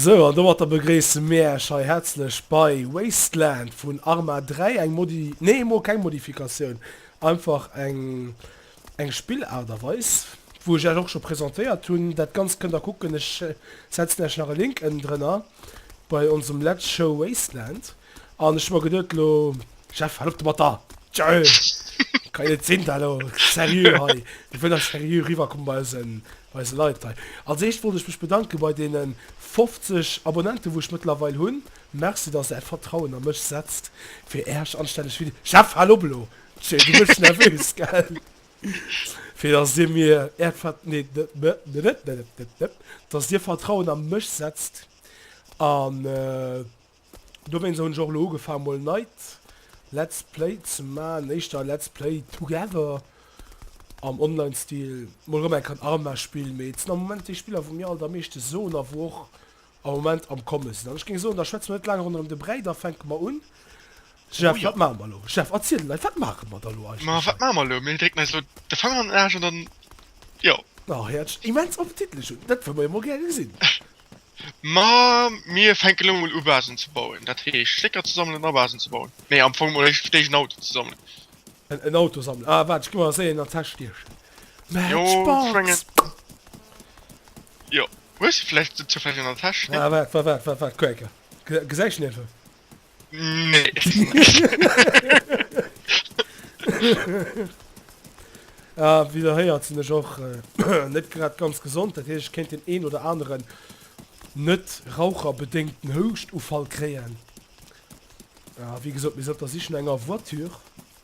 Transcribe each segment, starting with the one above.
Sou, an domatter begréisse mir Äech hei häerzlech bei Wasteland vun Arma 3, eng Modi-, nee emol keng Modifikatioun, einfach eng, eng Spillart a weis, wou ech Äech och scho presentéiert hunn. Dat Ganzt kënnt Der kucken, ech setzen Äech nach e Link ënnendrënner. bei onsem letz Show Wasteland an ech hun mer geduet elo Jeff hal op domat da tjö kann net sin da elo serieux hei mir wëll da serieux riwwer kommen bei eisen bei eise Leit hei als eischt wollt ech mech bedanken bei deenen 50 Abonnenten wou ech mëttlerweil hun merci dass der äert Vertrauen a mech setzt fir äerch anstänneg Vide Jeff hal op elo tjö du gëss nervös gell. Fir datt Dir mir Äert datt Dir Vertrauen a mech setzt, an dowéinst hunn ech och elo ugefaangen mol e neit Let's Play ze man, éischter e Let's Play Together am Online Stil, mol erëm enk en Arma Spill, mee et sinn am Moment déi Spiller wou mir alt am meeschte soen a wou och am Moment am komme sinn an ech géing soen, da schwätze mer net laang ronderëm de Bräi, da fänke mer un. Jeff, wat maache mer elo? Jeff, erziel de Leit, wat maache mer da lo eigentlech? Ma wat maache mer elo? Mir drécken eis elo de Fanger an den Aarsch an dann, jo. Oh, hir Äertchen, immens appetitlech un! Dat wëlle mer jo mol gäre gesinn. Ma mir fänke lo mol u Basen ze bauen, dat heescht Stécker ze sammelen a Basen ze bauen. Nee, am Fong mol éischt fir d'éischt en Auto ze sammelen. En Auto sammelen? Ah, waart, ech gi mer eréischt een an d'Täsch stiechen. Matchbox! Jo, hues du vläicht se zufälleg an der Täsch? Ah, waart, waart, waart, waart, waart, Quaker. Ge gesäis den eventuell? Nee. Ah, wéi der héiert, sinn ech och net grad ganz gesond. Dat heescht, ech kéint deen een oder aneren net-raucherbedéngten Houschtuffall kréien. A wéi gesot, mir sinn op der Sich no enger Voiture.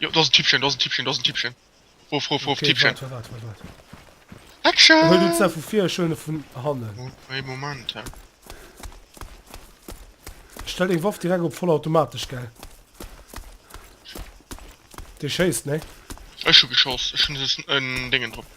Jo, do ass en Typchen, do ass en Typchen, do ass en Typchen. Ruf, ruf, ruf, Typchen. Okay, warte, warte, warte, warte. Action! Hol du d'Sa vu vir, ech huelen e vun hannen. Oh, hey, Moment, he. Stell deng Waff direkt op vollautomatesch, gell? Dee schéisst, ne? Ech hu geschoss, ech hun en Déngen drop.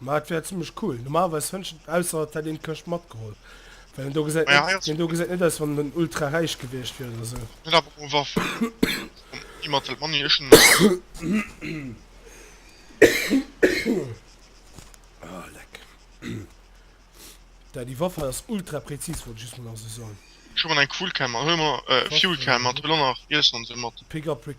Ma et wär zimmlech cool. Normalerweis wënschen, ausser et hätt een d'Këscht matgeholl, well deen do gesäit net, deen do gesäit net aus, wann en ultra räich gewiescht wier oder sou. Oh leck. Dady Waffe hei ass ultra präzis, wollt ech just mol nach esou soen. Big up Rick.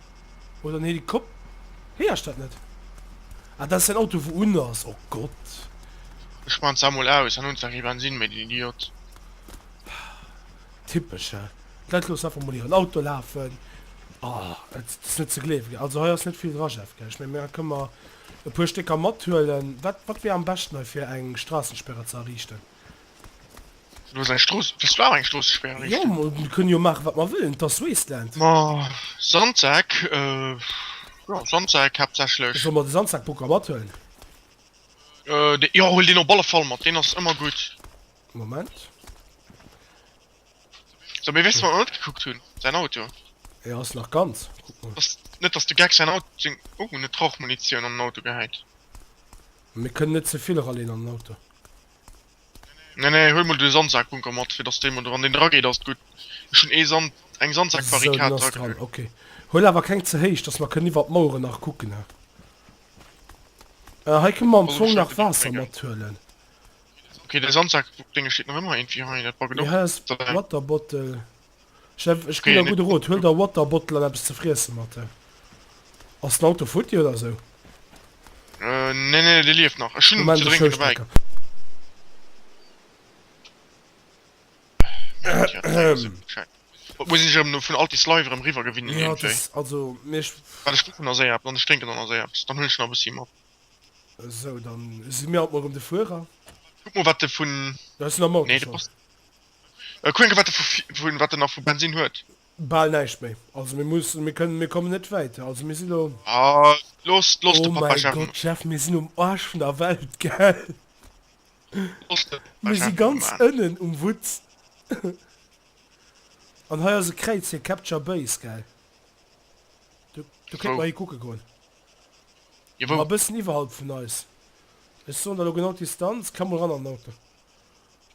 Oder en Helikop Héier ech dat net? Ah dat ass den Auto wou un ass, oh Gott. Ech man se emol aus an hun zwar kee Bensin méi, den Idiot. Typesch he, d'Leit loossen einfach mol hiren Auto lafen, ah et ass net ze gleewen. Also hei ass net vill dra Jeff, ech mengen mer kënne mer e puer Stécker mathuelen. Wat wat wier am beschten hei fir eng Strassensperre ze erriichten? Du hast eng Strooss, wëss du awer eng Stroossespäer Jo, errichten? mer kënnen jo maachen, wat mer wëllen. 't ass Wasteland. Ma Sandsäck, jo, Sandsäck haaptsächlech. Solle mer de Sandsackbugger mathëllen? De, jo, huel deen op alle Fall mat, deen ass ëmmer gutt. Moment. Sou, mee weess de, wat mer net gekuckt hunn? Säin Auto. E ass nach ganz. Kuck mol. Dass, net dass de Geck säin Au, seng, oh, net d'Rauchmunitioun an den Auto gehäit. Mir kënnen net ze vill ralleen an den Auto. Nee nee huel mol de Sandsaakbunker mat fir dass dee mol wann deen dra geet ass et gutt. Ech hunn ee Sand eng Sandsaakbarrikad dra kritt. Ok huel awer keng ze héich dass mer kënnen iwwert d'Maueren nach kucken ne. Ah hei kënne mer am Fong nach Waasser mat huelen. Ok de Sandsaakdénge steet nach ëmmer eenvir hei dat war gedopt. Waterbottle. Jeff, ech ginn der gudde Rot, huel der Waterbottle an eppes ze friessen mat. Ass den Auto futti oder esou? Nee, nee, dee lieft nach. Ech hunn ze drénken dobäi. Wat muss ech erëm vun Altis Live erëm riwwer gewinnen iergendwéi? Wat ech kucken ass éi-eppes an ech drénken dann ass éi-eppes. Dann huelen ech nach e bëssi mat. Esou, dann si mir haut Mueren de Fuerer. Kuck mol wat de vun. Hues de nach Moutarde? Kuck eng Keer wat e wat e nach vu Bensin huet. Bal näischt méi. Also mir muss mir kënnen mir kommen net wäiter. Also mir si lo. Ah looss looss de Papa Jeff. Oh mäi Gott Jeff mir sinn um Aarsch vun der Welt gell. Looss de Papa Jeff emol maachen. Mir si ganz ënnen um Wutz. An hei ass e Kräiz fir Capture Base gell. Do do kéint mer hi kucke goen. Jo wou? A bëssen iwwerhalb vun eis. Ech soen der lo genau d'Distanz. Klam mol ran an den Auto.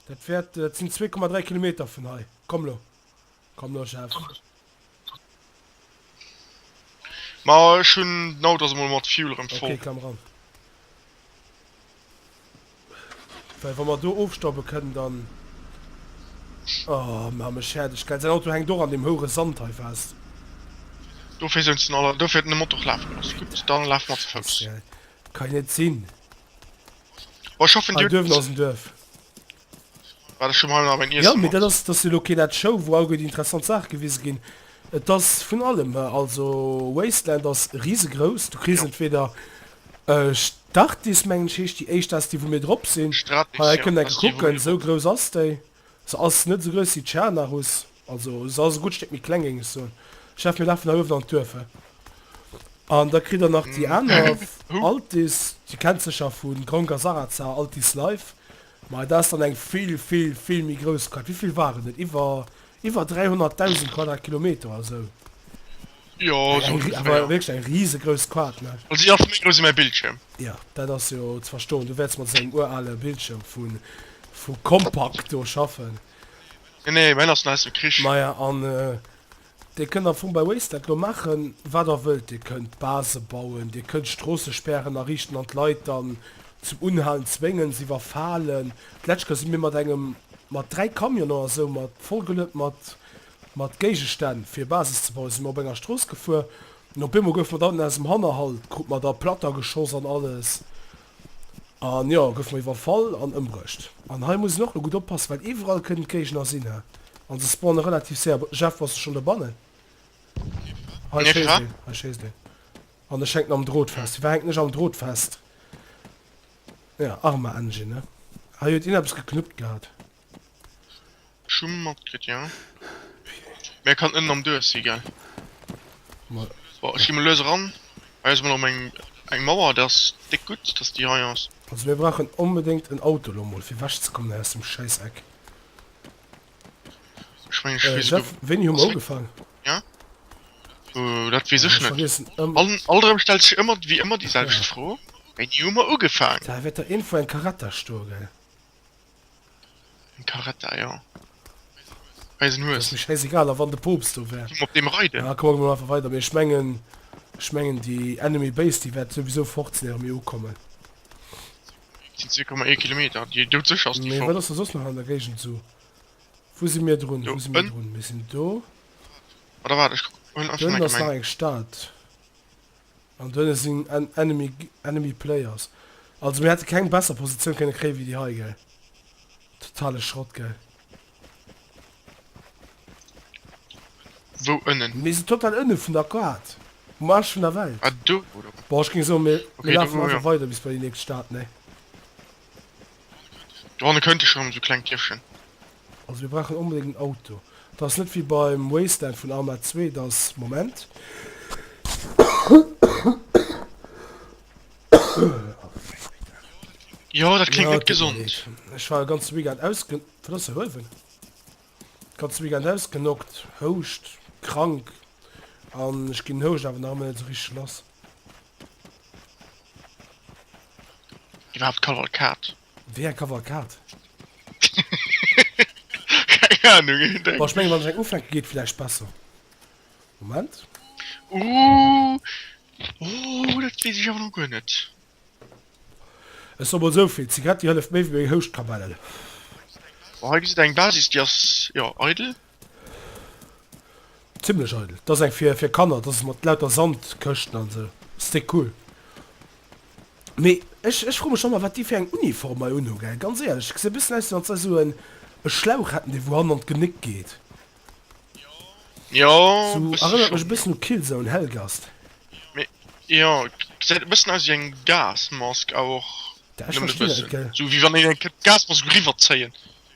Dat wärt dat sin 2,3 Kilometer vun hei. Komm lo, komm lo Chef. Ma ech hun d'Auto ass emol mat Fuel rem voll. Ok, klamm ran. Well wa mer do ofstoppen kënnen dann. Oh man mech färdeg geil. Säin Auto hänkt och an dem houren Sand hei fest. Dofir souz en aller, dofir huet en de Motor och laf geloss. Gudd, dann laf mer ze Fouss. Geil, kann jo net sin. Oh, ich hoffe, dir Duerf no ass Duerf. War das schon mal nach mein Essen? Ja, mir dat ass das lo keen Ad Show wou allguer déi interessant Saach gewise ginn. Et ass vun allem hei. Also Wasteland ass risegrous. Du kriss entweder Startis mengen ech heescht déi éischt, dat ass déi wou mir drop sinn. Hei kënnt enke kucken, esou grouss ass déi. Se ass net esou grouss wéi d'Schianarus, also se ass e gutt Stéck méi kleng, géing ech soen. Chef, mir lafen hei uewen an d'Duerf, hä? An da kritt der nach déi aner Altis, dir kennt sécher vu Grong a Sarrazar, Altis Life, mä dat ass dann eng vill, vill, vill méi grouss Quad. Wéi vill waren et? Iwwer, iwwer 300.000 Quadratkilometer oder esou. Jo sou ongeféier. Awer wierklech eng risegrousst Quad ne. Well si ass méi grouss ewéi mäi Bildschierm. Jo dat ass jo ze verstoen, du wäerts mat esou engem urale Bildschierm vu vu Compaq do schaffen. Nee nee, mäin ass nach aus dem Krich. Maja an Dir kënnt am Fong bei Waze dat lo maachen wat der wëllt, Dir kënnt Base bauen, Dir kënnt Stroossespären ariichten an d'Leit dann zum Unhalen zwéngen, se iwwerfalen. D'lescht Kéier si mir mat engem mat 3 Camionen oder sou mat vollgeluet mat. Mat Géigestänn fir Basis ze bauen si mer op enger Strooss gefuer an op eemol gouf mer dann aus dem Hannerhalt, krut mer da Platter geschoss an alles an jo gouf mer iwwerfall an ëmbruecht. An hei muss een och lo gutt oppassen, well iwwerall kënnen d'Géigner sinn he an se spawnen relativ séier. Bon, Jeff bass du schonn dobannen? Hei schéisst een, hei schéisst een an ech hänken am Drot fest. Firwat hänken ech am Drot fest? Ja, Arma Engine ne? Hei huet een eppes geknuppt gehat. Ech hu mat kritt jo. Mä kann ënnen am duerch si gell. Bon ech gi mol lues eran. Hei ass mol rem eng eng Mauer dat ass déck gutt dass déi hei ass. Also mir brauchen onbedéngt en Auto lo mol fir wech ze kommen hei aus dem scheiss Eck. Ech mengen ech weess Jeff wéini hu mer ugefaang? Ja? Ooh dat weess ech net. An all rem stellt sech ëmmer wéi ëmmer déi selwecht Fro, wéini hu mer ugefaang? Da wäert der eenfou eng Caretta stoe gell. Eng Caretta, jo. Eisen Hues. Ass mir schäisegal, a wann de Poopst do wär? Op deem reiden? Ah, komm, da goe mer einfach weider. Mee ech mengen, ech mengen déi Enemy Base, déi wäert souwisou fort sinn, éiere mir ukommen. Et sinn 2,1 Kilometer. Déi doudsécher ass déi fort. Mee wat ass da soss nach an der Géigend esou? Wou si mir drun? Wou si mir drun? Mir sinn do. Oder waart, ech kucken einfach meng. Do ënne ass nach eng Stad. An do hinne sinn enemy enemy players. Also mir hätte keng besser Positioun kënne kréie wéi déi hei, gell. Totale Schrott, gell. Wou ënnen? Mir si total ënne vun der Kaart. Um Aarsch vun der Welt. Ah do, oder wou? Bon, ech géing soen, mir mir lafen einfach okay, weider bis bei déi nächst Stad, nee? Do hanne kënnt ech erëm esou kleng Dierfchen. Also mir brauchen onbedéngt en Auto. Et ass net wéi beim Wasteland vun Arma 2, dass, Moment, Jo, dat kléngt net gesond. Ech war de ganze Weekend ausge... Wat ass de Huewen? De ganze Weekend ausgenockt, Houscht, krank. An ech ginn den Houscht awer nach ëmmer net esou richteg lass. Iwwerhaapt Kavalkad. Wéi eng Kavalkad? Keng Ahnung, ech hunn Ech mengen wann ech eng ufänken geet villäicht besser. Moment. Ooh ooh dat wees ech awer lo guer net. Ech soe mol souvill, Zigaretti hëlleft méi wéi meng Houschtkamellen. Bon hei gesitt der eng Basis déi ass jo eidel. Zimlech eidel. Dass eng fir fir Kanner, dass mat lauter Sand Këschten an sou. Ste cool. Mee ech ech froe mech ëmmer wat déi fir eng Uniform hei unhu gell. Ganz éierlech et gesitt bëssen aus wéi wann se esou en e Schlauch hätten dee wou hannen an d'Genéck geet. Jo Sou bësse erënnert mech e schonn. bëssen u Killzone Helgast. Mee jo gesäit e bëssen aus wéi eng Gasmask awer och Da ech nëmmen e verstinn et bëssen. gell. Sou wéi wann een eng Gasmask eriwwer zéien.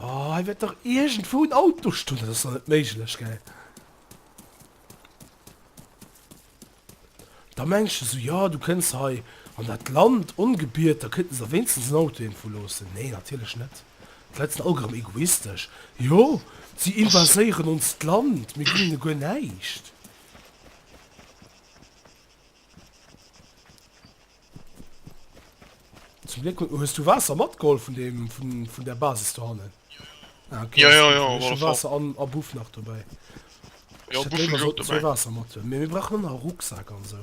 Oh, hei wäert dach iergendwou en Auto stoen, dat ass dach net méiglech, gell? Da mengs de sou, jo, du kënns hei an dat Land ongebiet, da kënnten se der wéinstens en Auto iergendwou loossen. Nee, natierlech net. D'Leit sinn all gerëm egoistesch. Jo, si invaséieren onst Land, mir ginn hinne guer näischt. Zum Glück hues du Wasser matgeholt vun dem, vun, vun der Basis do hannen. Ah, okay. Ja, ja, ja, auf alle Fall. Wasser an, a Buff nach dabei. Ja, Buff schon so, dabei. Wasser mat. Mir, mir brauchen noch Rucksack an so.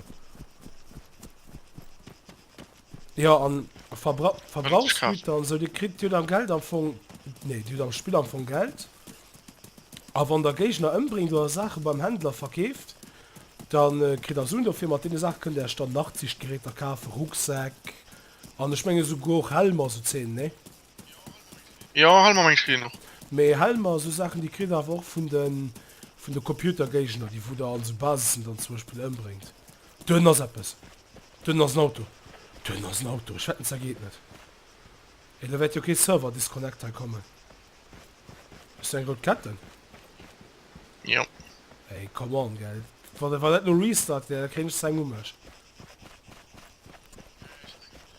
Jo an Verbrauchsgüter an esou, Dir kritt, Dir hutt am Geld am Fong, nee Dir hutt am Spill am Fong Geld a wann Der Géigner ëmbréngt oder Saache beim Händler verkeeft, da kritt Der Suen dofir. Mat deene Saache kënnt Der Iech dann Nachtsichtgeräter kafen, Rucksäck an ech mengen esouguer och Helmer, esou Zeen, nee? Jo Helmer mengen ech kritt een och. Mee Helmer a sou Saachen, déi kritt Der awer och vun de Computergéigner, déi wou Der an esou Basissen dann zum Beispill ëmbréngt. Dunn ass eppes. Dunn ass en Auto. Dunn ass en Auto. Ech hätt en zergeednet. Hé, da wäert jo kee Server Disconnect hei kommen. Hues du eng rout Ketten? Jo. Hey, come on, gell. Wa, wa dat lo Restart wär, da kréien ech se eng u mech.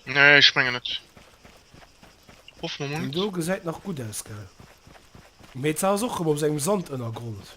Nee, ech mengen net. Hoffen mer mol Deen net. do gesäit nach gutt aus, gell. Mee et sah ass och rëm op sengem Sandënnergrond.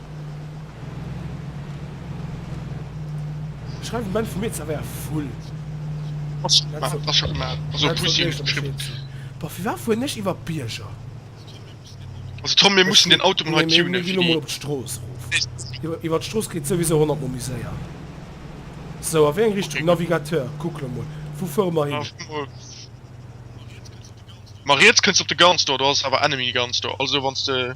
Schreif um Enn vum Mee zerwéier Vull. Ass scho gemaat, ass scho gemaat. Also op Pussy hues de geschriwwen. Boah fir waat fueren ech iwwer d'Bierger? Also Tom mir mussen den Auto mol hei tunen. Mir gin lo mol op d'Strooss erof. Iwwer d'Strooss geet souwiesou 100 mol méi séier. Sou a wéi eng Richtung? Navigateur kuck lo mol wou fuere mer hin? Ma riets kënns op de Gun Store, do ass awer Enemy Gun Store, also wanns de.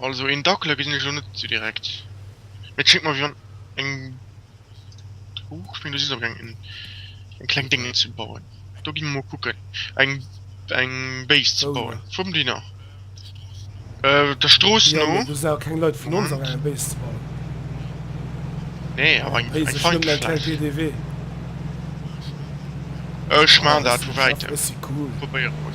Also een Dackler gesinn ech lo net sou direkt, mee et schéngt mer wéi wann eng, huch, ech meng do si se op engem eng kleng Déngen ze bauen, do gi mer mol kucken eng eng Base ze bauen vum Diner der Strooss no, Moment, nee awer eng eng fein Fläch, ech man dat vu wäitem, probéiere mer.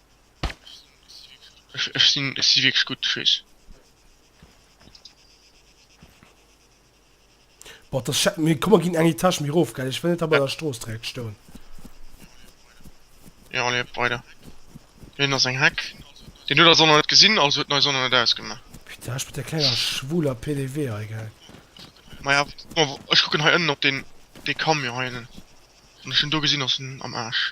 Ech, ech sinn, ech si wierklech gutt, tschüss. Boah, das Chat, mir kommen gin eng Etage méi rof, gell, ech well net da bei der Strooss direkt stoun. Jo, leeft weider. Hien ass eng Heck. Deen huet eis och nach net gesinn, also huet en eis och nach net ausgemaach. Putain, ech mat der klenger schwuler PDW hei, gell. Maja, ech kucken hei ënnen op deen, dee Camion hei ënnen, wann ech en do gesinn, ass en am Aarsch.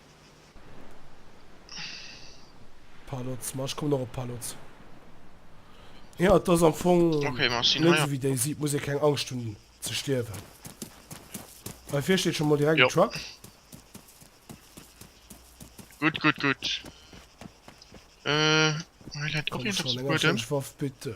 Palots, ma ech kommen och op Palots. Ja, et ass am Fong okay, net so, wéi déi sieht, muss ee keng Angscht hunn ze stierwen. Bei fir steet schon mal direkt ja. Truck. Gut, gut, gut. Äh, Waff bitte.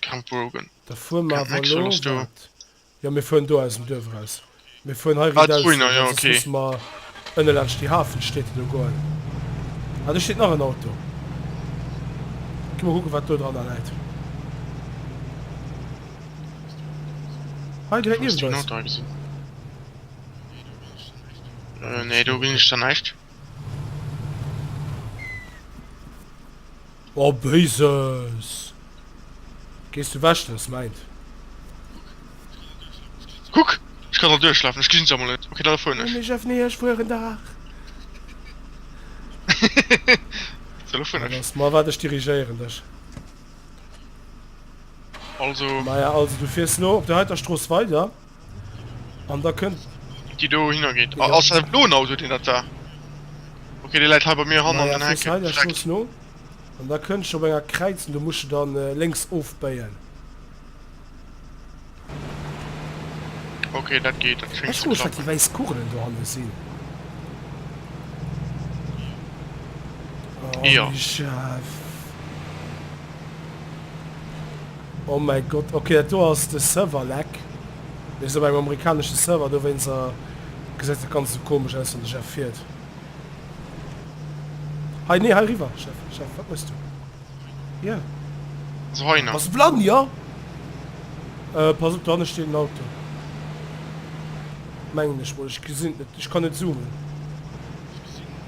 Camp Brogan. Da fuer mer awer elo, wat? Jo, mir fueren do aus dem Duerf eraus. Mir fueren hei riit aus, well soss musse mer ënne laanscht déi Hafenstied do goen. Ah, do steet nach en Auto. Gi mol kucken, wat do dranner läit. Hei direkt niewent eis. Nee, do gesinn ech dann näischt. Oh Béises! Gees du wech, dann ass mäint. Kuck, ech kann dran duerchlafen, ech gesinn se emol net. Ok, dann erfueren ech. Ech ëffne iech wuer en Dag. Dann erfueren ech. Lass mar, waart, ech dirigéieren dech. Also. Maja, also du fiers lo op der heiter Strooss weider. An da kënnt déi do hinner geet. Ja. Ass dat blo Auto den dat war? Okay, de läit hei bei mir han an den Heck. An da kënnt scho enger kräizen, du musche dann äh, lenks ofbéien. Okay, dat geht, dat schenkt zu klappen. die weiss Kugelen do hanne sinn. Oh, ja. Chef. Oh mäi Gott, ok dat do ass de Server Lag, mir sinn op engem amerikanesche Server, dowéinster gesäit dat ganzt esou komesch aus wann de Jeff fiert. Hei, nee hei riwwer Jeff, Jeff wat méchs du hir? Also hei nach. Bass de blann jo? Euh pass op do hanne steet en Auto mengen ech mol, ech gesinn et net, ech kann net zoomen.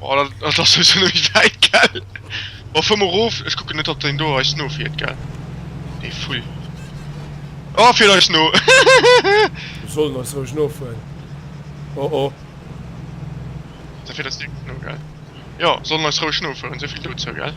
Oh, dat, dat ass jo sou méi wäit, gell? Oh, fuer mol rof, ech kucken net ob deen do eis nofiert, gell? Dee Vull. Oh, fiert eis no! Mir sollen eis roueg nofueren. Oh oh. Da fiert eis direkt no, gell? Jo, sollen eis roueg nofueren, souvill dozou, gell?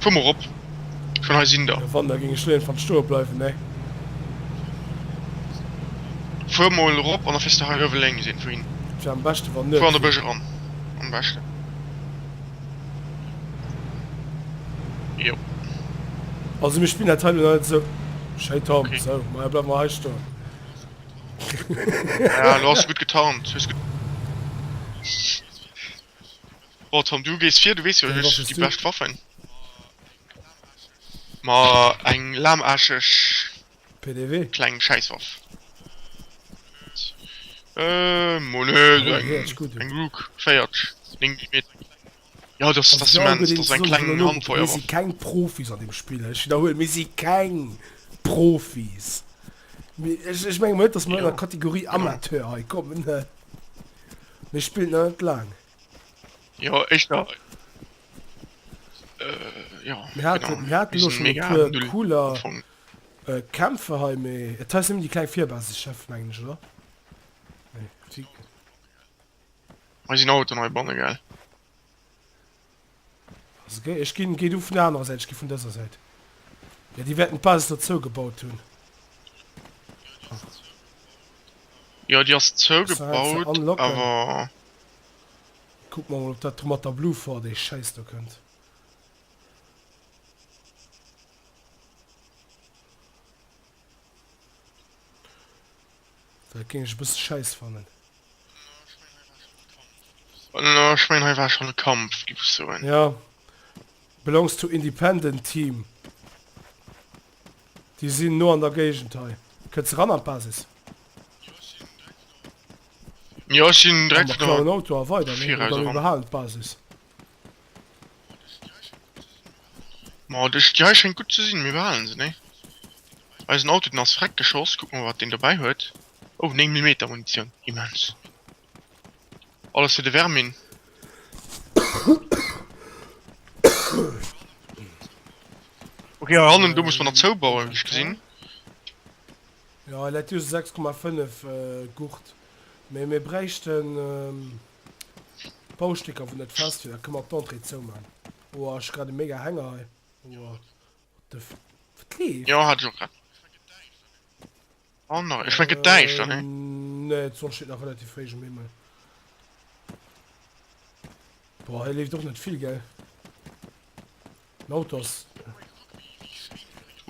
Fuer mol rop, schon hei sin der. Wann da ging ech leeën fand stoe bleiwen nee. Fuer mol rop an da fiers de hei uewe lénks een vun hin. Tja am beschte wann net. Fuer an de Bësch eran am beschte. Also mir spillen dat hei lo nach net esou schéi Tom, okay. Sou ma jo bleiwe mer hei stoen. Ja lo ass du gutt getarnt, hues gutt. Boah Tom, du gees vir, du wees jo ech hu déi bescht Waffen. Ma eng lahmarscheg pdw kleng Schäisswaff. Euh, mo ne, eng Rook 4, 9 Millimeter. Jo dat ass immens, dat ass eng kleng Handfeuerwaff. Mir si keng Profis an deem Spill, ech widderhuelen, mir si keng Profis. Ech mengen net, datt mer an der Kategorie Amateur hei kommen. Mee spillt nach net laang. Jo ech nach cooler Kämpfe hei méi et heißt die kleng Vierbase Chef mengen oder Eisen Auto nei bonne gell. Also gei, ech gin, gei du vun der anerer Säit, ech gi vun dëser Säit. Jo, déi wäerten d'Basis do zougebaut hunn. Jo, déi ass Ass nach eng ze zougebaut, unlocken? awer. Kuck mer mol, ob dat do mat der Blue Fort, déi Schäiss do, kënnt. Dat géing ech e bësse schäiss fannen. No, ech meen hei war schonn e Kampf, giff ech soen. Ja. Belongs to independent team. Déi sinn no an der Géigend hei. Kënns de ran an d'Basis? Jo, ech sinn direkt no. An der klauen Auto a weider, ne? Oder mir behalen d'Basis. Ma dech Dei schéngt gutt ze sinn, mir behalen se, nee? Eisen Auto den ass vreck geschoss, kuck mol wat deen dobäi huet, oh 9 Millimeter Munitioun, immens! Alles fir de Vermin. Ok hei hannen do muss mer nach zoubauen wéi ech gesinn. Jo, en läit just 6,5 Gurt, mee mir bräichten. Baustécker vun dat Fest fir dat kënn mer d'Entrée zou man. Boah ech grad e mega Hänger hei boah what the f wat leeft? Jo hat ech och grad. Oh no ech fënnt get däischter ne? Ehm nee d'Sonn steet nach relativ fréih um Himmel. Boah hei leeft och net vill gell? Lotus.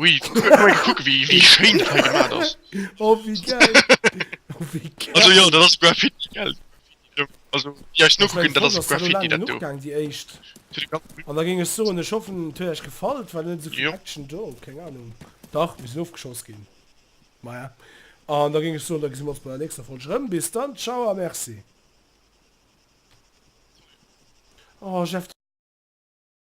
Ui, kuck wéi wéi schéin dat hei gemaat ass. Oh wéi gell. Oh wéi gell. Also jo, dat ass Graffiti gell. Also déi eis nokucken, dat ass Graffiti dat do. Déi éischt. An da géing ech soen, ech hoffen et huet iech gefall, et war net esou vill Action do, keng Ahnung. Dach, mir sinn ofgeschoss ginn. Maja. An da géing ech soen, da gesi mir ons bei der nächster Folg erëm. Bis dann, ciao a merci. Oh Jeff.